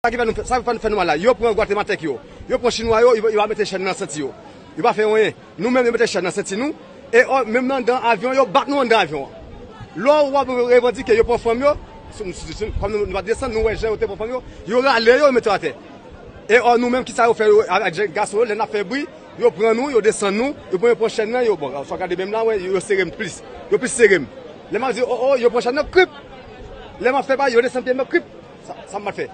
Sa ki fè nou sa ki fè nou mal la yo pran gwatematèk yo yo pran chinwa yo yo pa mete chèn nan senti yo yo pa fè anyen nou menm yo mete chèn nan senti nou e menm nan anndan avyon yo bat nou anndan avyon an lò ou ap revandike yo pran fanm yo kòm nou pa desann nou wè jan yo te pran fanm yo yo rale yo yo mete yo atè e ò nou menm kisa yo fè yo ak jèn gason yo lè n ap fè bri yo pran nou yo desann nou yo pran yo pran chèn nan yo bon sa w gade menm la wè yo sere m plis yo plis sere m lè m ap di o o yo pran chèn nan krip lè m ap fè bagay yo desann pye m yo krip. Sa m pat fè?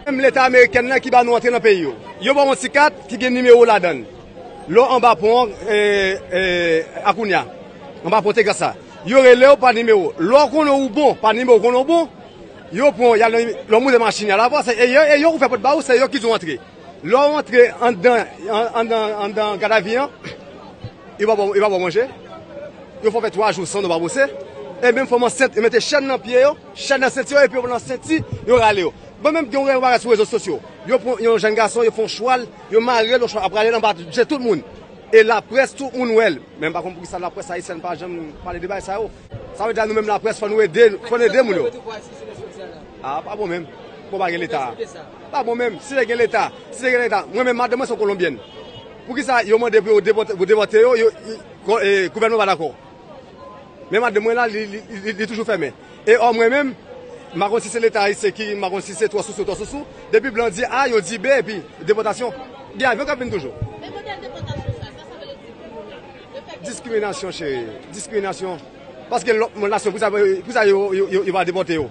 Menm leta amerikèn nan ki ba nou antre nan peyi yo. Yo ba w yon ti kat ki gen nimewo w ladan l. Lè w anba pon an, a kounye a, anba pon Texas la, yo rele w pa nimewo. Lè w konnen ou bon, pa nimewo w konnen ou bon, yo pran w, y al nan, lè w monte machin, y al avè w, se yo k ouvè pòt ba ou, se yo ki di w antre. Lè w antre anndan, anndan gadavi an, yo pa ba w manje, yo fè w fè twa jou san w pa bwose, e menm fanm ansent, yo mete chèn nan pye yo. Chèn nan senti yo epi yo pran nan senti yo rale yo. Mwen menm gen yon yon bagay sou rezo sosyo. Yo pran yon jèn gason, yo fè yon chwal, yo marel yon chwal ap rale l anba je tout moun. E laprès tout moun wè l. Men m pa konn poukisa laprès ayisyèn pa janm pale de bagay sa yo. Sa vle di a nou menm laprès fò nou ede, fò n ede moun yo. A pa bon menm. Bon pa gen leta. Pa bon menm. Si te gen leta, si te gen leta. Mwen menm madanm mwen se yon kolonbyèn. Poukisa yo mande pou yo depòte yo, gouvènman pa dakò. Men madanm mwen la li toujou fèmen. E ò mwen menm, m pa konn si se leta ayisyen ki, m pa konn si se twò sousou twò sousou, depi blan di A, yo di B epi depòtasyon, gen avyon k ap vin toujou. Men modèl depòtasyon sa, sa sa vle di pou nou la? Le fè ke. Diskriminasyon cheri, diskriminasyon. Paske lòt nasyon, pou sa yo pa depòte yo?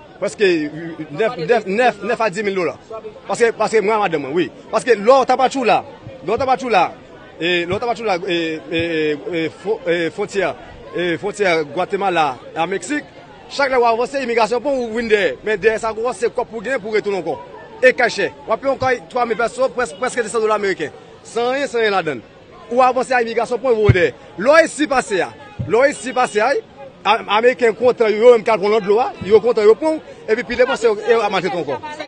Prèske 9 a 10 mil dola. Paske mwen a madanm mwen wi. Paske lè w ta pa tjou la, lè w ta pa tjou la, lè w ta pa tjou la fwontyè, fwontyè Gwatemala a Meksik, chak lè w avanse imigrasyon pran w ou vin dèyè. Men dèyè sa ankò se kòb pou w genyen pou w retounen ankò. E kay chè. W ap peye yon kay 3 mil pèso, prèske 200 dola meriken. San anyen, san anyen ladann. Ou avanse a imigrasyon pwen vode. Lè w resi pase a, lè w resi pase a, ameriken kontan yo menm ki al pran lòt dlo a, yo kontan yo pran w, epi pi devan se yo ki maltrete w ankò.